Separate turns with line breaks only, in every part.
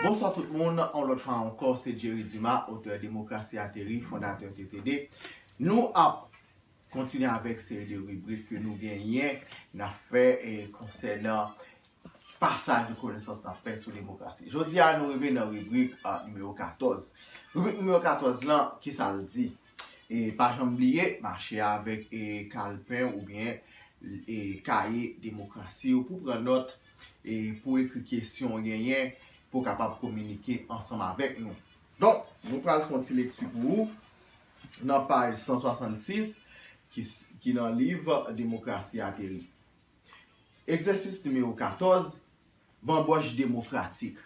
Bonswa tout moun, on lòt fwa ankò se Jerry Dumas, otè Demokrasi Ateri, fondatè TTD. Nou ap kontinye avèk seri de ribrik ke nou genyen n ap fè konsènan pasaj de konesans n ap fè sou demokrasi. Jodi a nou rive nan ribrik nimewo 14. Ribrik nimewo 14 lan, ki sa l di? E pa janm bliye, mache avèk kalpen oubyen kaye demokrasi w pou pran nòt e pou w ekri kesyon w genyen pou w kapab kominike ansanm avèk nou. Donk, nou pral fè yon ti lekti pou ou nan paj 166 ki nan liv Demokrasi ateri. Egzèsis nimewo 14, Banbòch demokratik.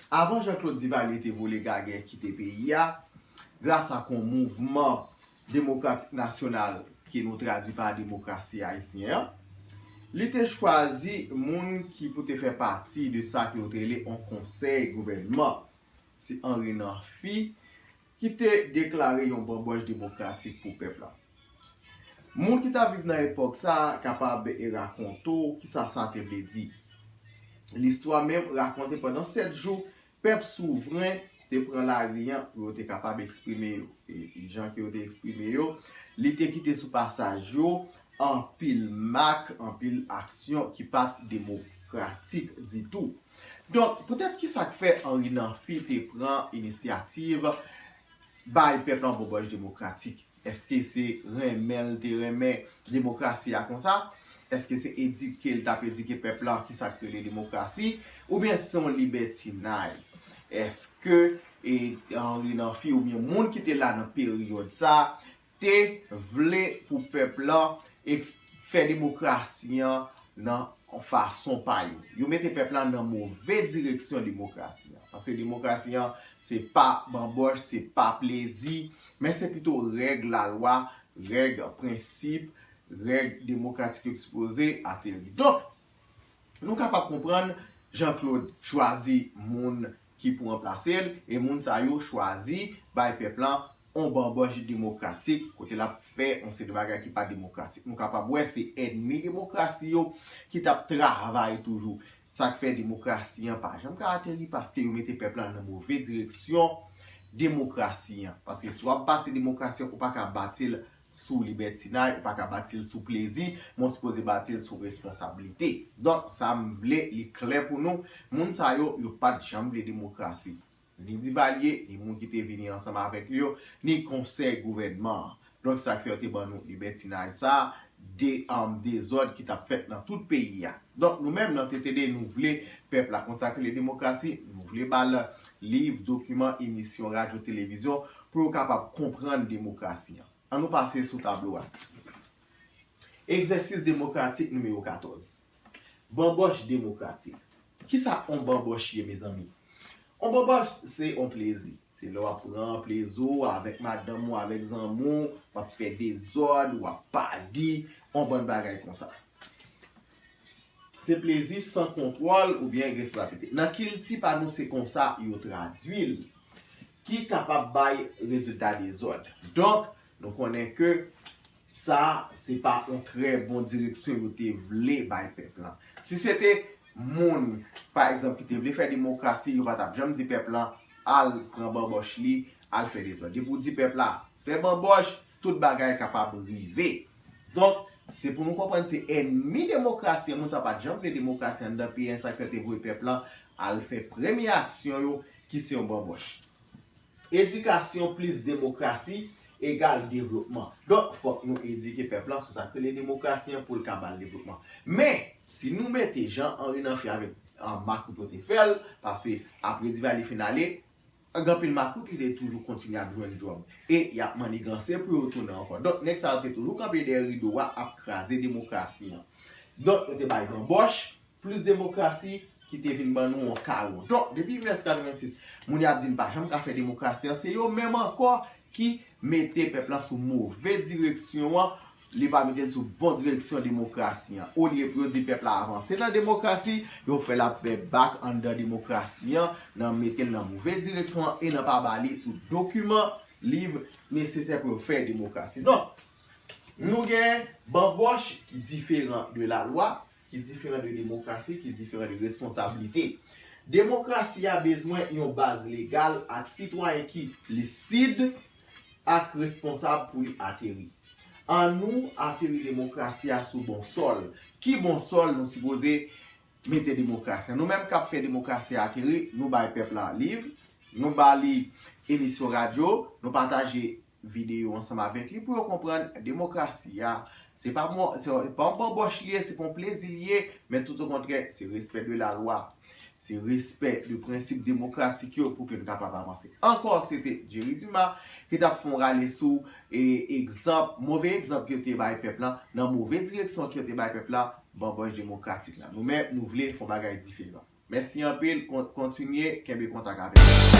Avan Jean Claude Duvalier te vole gagè kite peyi a, gras ak yon mouvman demokratik nasyonal ke nou tradui pa demokrasi ayisyen an, li te chwazi moun ki pou te fè pati de sa ke yo te rele yon konsèy gouvènman. Se Henry Namphy ki te deklare yon banbòch demokratik pou pèp la. Moun ki t ap viv nan epòk sa a kapab e rakonte w ki sa sa te vle di. Listwa menm rakonte pandan sèt jou, pèp souvren te pran lari an pou yo te kapab eksprime yo. E jan ke yo te eksprime yo, li te kite sou pasaj yo anpil mak, anpil aksyon ki pa t demokratik ditou. Donk, poutèt ki sa k fè Anri Nanfi te pran inisyativ bay pèp lan bòbòj demokratik? Èske se renmen l te renmen demokrasi a konsa? Èske se edike l t ap edike pèp lan ki sa k rele demokrasi? Oubyen se yon libètinay? Èske Anri Nanfi oubyen moun ki te la nan peryòd sa a te vle pou pèp lan fè demokrasi an nan fason pa yo. Yo mete pèp lan nan move direksyon demokrasi an. Paske demokrasi an se pa banboch, se pa plezi, men se pito règ la lwa, règ prensip, règ demokratik yo ekspoze, ateri. Donk, Nou kapab konprann Jean Claude chwazi moun ki pou ranplase l e moun sa yo chwazi bay pèp lan yon banbòch demokratik kote l ap fè yon seri bagay ki pa demokratik. Nou kapab wè se ènmi demokrasi yo ki t ap travay toujou. Sa k fè demokrasi an pa janm ka ateri paske yo mete pèp lan nan move direksyon demokrasi an. Paske si w ap bati demokrasi an ou pa ka bati l sou libètinay, ou pa ka bati l sou plezi, men w sipoze bati l sou responsablite. Donk, sa m vle li klè pou nou, moun sa yo, yo pa t janm vle demokrasi. Ni Divalye, ni moun ki te vini ansanm avèk li yo, ni Konsèy Gouvènman an. Donk, sa k fè yo te ban nou libètinay sa a, de dezòd ki t ap fèt nan tout peyi a. Donk, nou menm nan TTD, nou vle pèp la konn sa k rele demokrasi, nou vle ba l liv, dokiman, emisyon radyo, televizyon Pou yo kapab konprann demokrasi an. An nou pase sou tablo a. Egzèsis demokratik nimewo 14. Banbòch demokratik. Kisa on banbòch ye mezanmi? On banbòch se on plezi. Se lè w ap pran plezi w avèk madanm ou, avèk zanmi w, w ap fè dezòd, w ap padi, on bann bagay konsa. Se plezi san kontwòl oubyen responsabilite. Nan kilti pa nou se konsa yo tradui l. Ki kapab bay rezilta dezòd. Donk, nou konnen ke sa se pa yon trè bon direksyon yo te vle bay pèp lan. Si se te moun, pa egzanp, ki te vle fè demokrasi, yo pa tap janm di pèp lan al pran banbòch li, al fè dezòd. Depi ou di pèp la fè banbòch, Tout bagay kapab rive. Donk, se pou nou konprann se ènmi demokrasi an, moun sa yo pa t janm vle demokrasi anndan peyi an, sa k fè yo te voye pèp lan al fè premye aksyon yo ki se yon banbòch. Edikasyon plis demokrasi egal devlopman. Donk, fòk nou edike pèp lan sou sa k rele demokrasi an pou l ka ba l devlopman. Men, si nou mete jan Henri Namphy avèk Marc Ruto te fè l, pase apre Divalye fin ale, An gen anpil makout ki te toujou kontinye ap jwenn djòb. E y ap manniganse pou yo tounen ankò. Donk nèg sa yo te toujou kanpe dèyè rido a ap kraze demokrasi an. Donk yo te bay banbòch, plis demokrasi ki te vin ban nou yon kawo. Donk depi 1986 moun y ap di n pa janm ka fè demokrasi an se yo menm ankò ki mete pèp lan sou move direksyon an. li pa mete l sou bon direksyon demokrasi an. Olye pou yo di pèp la avanse nan demokrasi, yo fè l ap fè bak anndan demokrasi an, nan mete l nan move direksyon an e nan pa ba li tout dokiman, liv, nesesè pou yo fè demokrasi. Donk, nou gen banbòch ki diferan de lalwa, ki diferan de demokrasi, ki diferan de responsablite. Demokrasi a bezwen yon baz legal ak sitwayen ki lisid ak responsab pou li ateri. An nou ateri demokrasi a sou bon sòl. Ki bon sòl nou sipoze mete demokrasi a? Nou menm k ap fè demokrasi a ateri, nou bay pèp la liv, nou ba li emisyon radyo, nou pataje. videyo ansanm avèk li pou yo konprann demokrasi a se pa yon banbòch li ye, se pa yon plezi li ye men tout o kontrè se respè de la lwa, se respè de prensip demokratik yo pou ke n kapab avanse. Ankò se te Jerry Dumas ki t ap fè yon rale sou egzanp, move egzanp yo te bay pèp lan nan move direksyon ke yo te bay pèp lan, banbòch demokratik la. Nou menm nou vle fè yon bagay diferan. Mèsi anpil, kontinye kenbe kontak avèk nou.